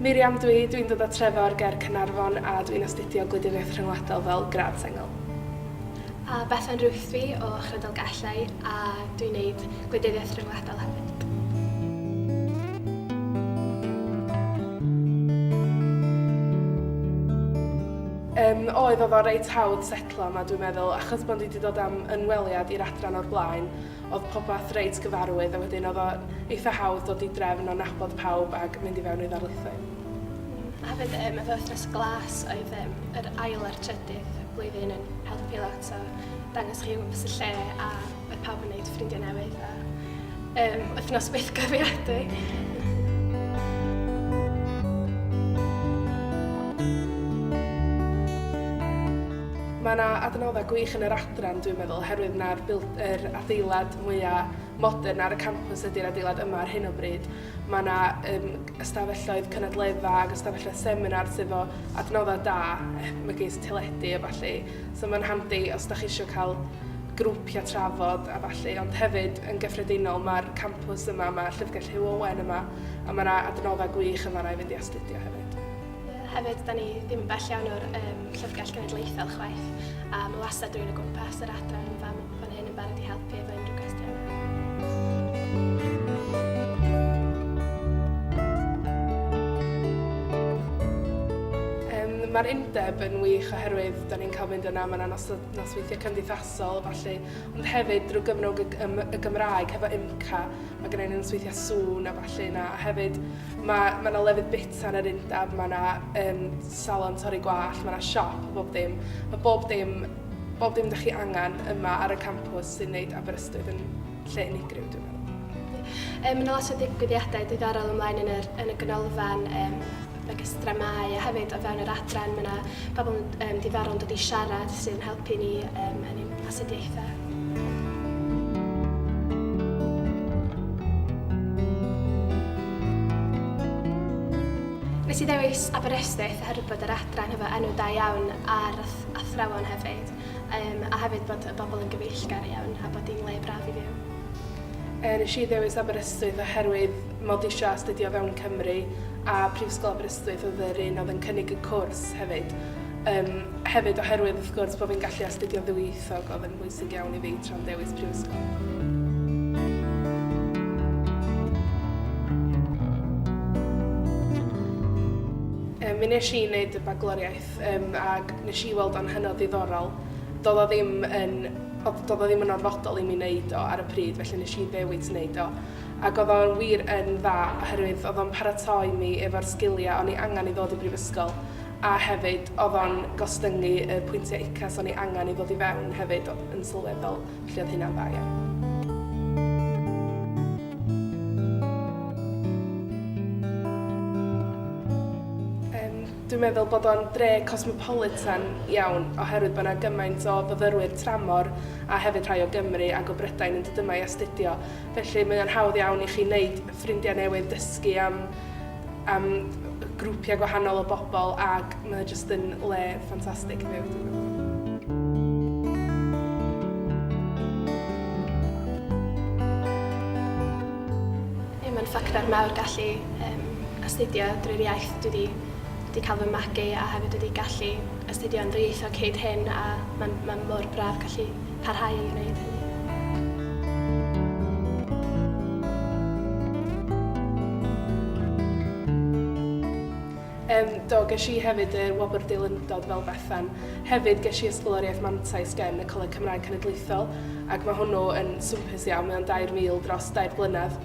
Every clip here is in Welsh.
Miriam dwi, dwi'n dod o Trefor ger Cynarfon a dwi'n astudio Gwleidyddiaeth Rhyngwladol fel grad sengl. A Bethan Ruth dwi o Chrydal Gellau a dwi'n neud Gwleidyddiaeth Rhyngwladol hefyd. Yym, oedd, oedd o reit hawdd setlo yma dwi'n meddwl, achos bod ni wedi dod am ynweliad i'r adran o'r blaen, oedd popeth reit gyfarwydd a wedyn oedd o eitha hawdd dod i drefn o nabod pawb ac mynd i fewn i ddarlithoedd. A hefyd um, efo Wythnos Glas oedd um, yr ail a'r trydydd blwyddyn yn helpu lot o dangos chi fy lle a Mae pawb yn gwneud ffrindiau newydd a um, wythnos byth gyfiadwy. Mae yna adnoddau gwych yn yr adran, dwi'n meddwl, herwydd na'r er adeilad mwyaf modern ar y campus ydy'r adeilad yma ar hyn o bryd. Mae yna um, ystafelloedd cynadledda ac ystafelloedd seminar sydd o adnoddau da, megis teledu a falle. So mae'n handi os da chi eisiau cael grwpiau trafod a ballu, ond hefyd yn gyffredinol mae'r campws yma, mae Llyfrgell Hugh Owen yma, a mae yna adnoddau gwych yn fanna i fynd i astudio hefyd. Hefyd, da ni ddim yn bell iawn o'r um, Llyfrgell Genedlaethol chwaith, a mae wastad rhywun o gwmpas yr adran yn fan, fan Rwy'n yn barod i helpu efo unrhyw cwestiynau. Mae'r undeb yn wych oherwydd da ni'n cael mynd yna, mae yna nosweithiau cymdeithasol a falle, ond hefyd drwy gyfnod y Gymraeg hefo IMCA, mae gen i nosweithiau sŵn a falle yna, a hefyd mae yna ma lefydd bita yn yr undeb, mae yna um, salon torri gwallt, mae yna siop a bob dim, mae bob dim bob dim 'da chi angen yma ar y campws sy'n neud Aberystwyth yn lle unigryw dwi'n meddwl. Mae yna lot o ddigwyddiadau diddorol ymlaen yn, yr, yn y ganolfan, um, megis dramau a hefyd o fewn yr adran mae yna pobl um, diddorol yn dod i siarad sy'n helpu ni um, yn ein astudiaethau. Nes i ddewis Aberystwyth oherwydd bod yr adran hefo enw da iawn ar athrawon hefyd, um, a hefyd bod y bobl yn gyfeillgar iawn a bod hi'n le braf i fyw. E, nes i ddewis Aberystwyth oherwydd mod i eisiau astudio fewn Cymru a Prifysgol Aberystwyth oedd yr un oedd yn cynnig y cwrs hefyd. Um, hefyd oherwydd wrth gwrs bod fi'n gallu astudio ddwyieithog oedd yn bwysig iawn i fi tra'n dewis Prifysgol. mi nes i wneud y bagloriaeth Yym ag nes i weld o'n hynod ddiddorol. Do'dd o ddim yn odd do'dd o ddim yn orfodol i mi neud o ar y pryd felly nes i ddewis neud o ag odd o'n wir yn dda oherwydd odd o'n paratoi mi efo'r sgilia o'n i angan i ddod i brifysgol a hefyd odd o'n gostyngu y pwyntia UCAS o'n i angan i ddod i fewn hefyd o- yn sylweddol felly odd hynna'n dda iawn. Yym Dwi'n meddwl bod o'n dre cosmopolitan iawn oherwydd bod 'na gymaint o fyfyrwyr tramor a hefyd rhai o Gymru ac o Brydain yn dod yma i astudio, felly mae o'n hawdd iawn i chi wneud ffrindiau newydd, dysgu am am grwpiau gwahanol o bobl ac mae o jyst yn le ffantastig i fyw dwi'n meddwl. Ie mae'n ffactor mawr gallu yym astudio drwy'r iaith dwi 'di wedi cael fy magu a hefyd wedi gallu astudio yn ddwyieithog hyd hyn a mae'n ma mor braf gallu parhau i wneud hynny. Yym, do, ges i hefyd y Wobr Deilundod fel Bethan. Hefyd, ges i Ysgoloriaeth Mantais gen y Coleg Cymraeg Cenedlaethol, ac mae hwnnw yn swmpus iawn, mae o'n 2,000 dros dair blynedd.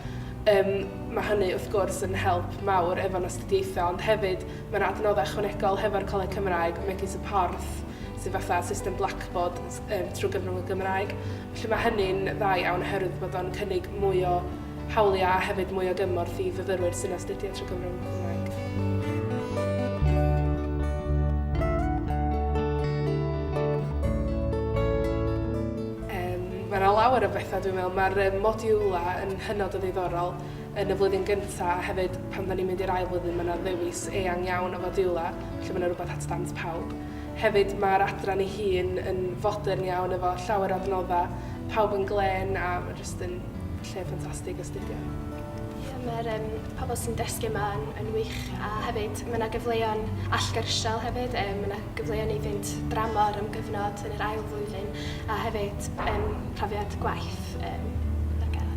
Yym, mae hynny, wrth gwrs, yn help mawr efo'n astudiaethau, ond hefyd mae 'na adnoddau ychwanegol hefo'r Coleg Cymraeg, megis y Porth, sydd fatha system blackboard s- yym trwy gyfrwng y Gymraeg. Felly, mae hynny'n dda iawn oherwydd bod o'n cynnig mwy o hawliau a hefyd mwy o gymorth i fyfyrwyr sy'n astudio trwy Gymro yn Cymraeg. Mae yna lawer o bethau dwi'n meddwl. Mae'r um, modiwlau yn hynod o ddiddorol yn y flwyddyn gyntaf a hefyd pan da ni'n mynd i'r ail flwyddyn mae yna ddewis eang iawn o fodiwlau, felly mae yna rhywbeth at dant pawb. Hefyd mae'r adran ei hun yn fodern iawn efo llawer o adnoddau, pawb yn glen a mae jyst yn Lle ffantastig astudio. Ie, mae'r um, pobl sy'n dysgu yma yn, yn wych a hefyd mae yna gyfleon allgyrsiol hefyd, um, mae yna gyfleon i fynd dramor am gyfnod yn yr ail flwyddyn a hefyd um, profiad gwaith um, ar gael